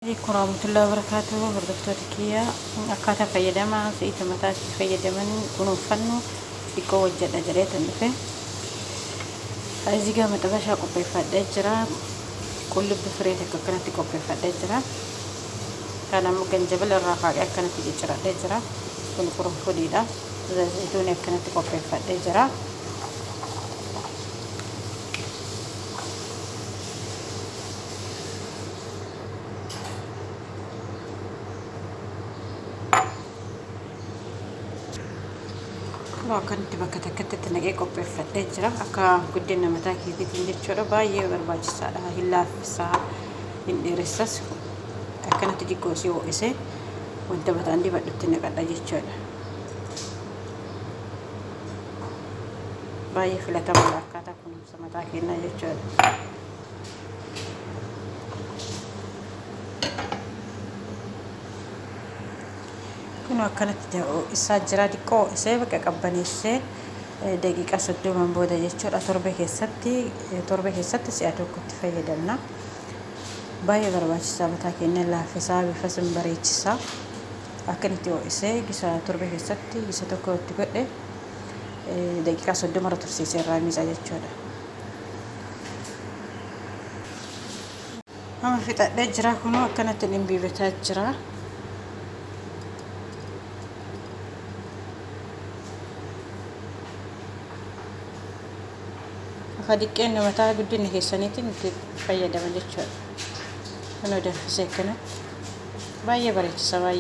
Alaikum warahmatullahi wabarakatuh hordoftoota kiyya akkaataa fayyadama zayita mataa itti fayyadaman kunuunfannu xiqqoo hojjedha jedheetan dhufe ezigaa maxabashaa qopheeffadhee jira qullubbi firee takka akkanatti qopheeffadhee jira kan ammoo ganjabila irraa faaqee akkanatti cicciradhee jira kun qurunfudiidha zayituun akkanatti qopheeffadhee jira Kunoo akkanitti bakka takkatti itti naqee qopheeffadhee jira. Akka guddina mataa keetiitiin jechuudha. Baay'ee barbaachisaadha. Hin laaffisa, hin dheeressas. Akkanatti xiqqoo si ho'isee wanta mataan dibadhutti naqadha jechuudha. Baay'ee filatamaadha akkaataa kunuunsa. mataa keenyaa jechuudha. Kun akkanatti isaa jira xiqqoo isee bakka qabbaneessee daqiiqaa soddomaan booda jechuudha torbe keessatti torbe keessatti si'a tokkotti fayyadamna. Baay'ee barbaachisaa mataa keenya laaffisaa bifa sin bareechisaa akkanatti ho'isee gisa torbe keessatti gisa tokko itti godhe daqiiqaa soddoma irra tursiisee irraa miica jechuudha. Amma fixadhee jira kunoo akkanatti dhimbiibataa jira. Akka diqqeen mataa guddinni keessaniitiin itti fayyadama jechuudha. Kunoo danfisee akkanatti baay'ee bareechisa baay'ee.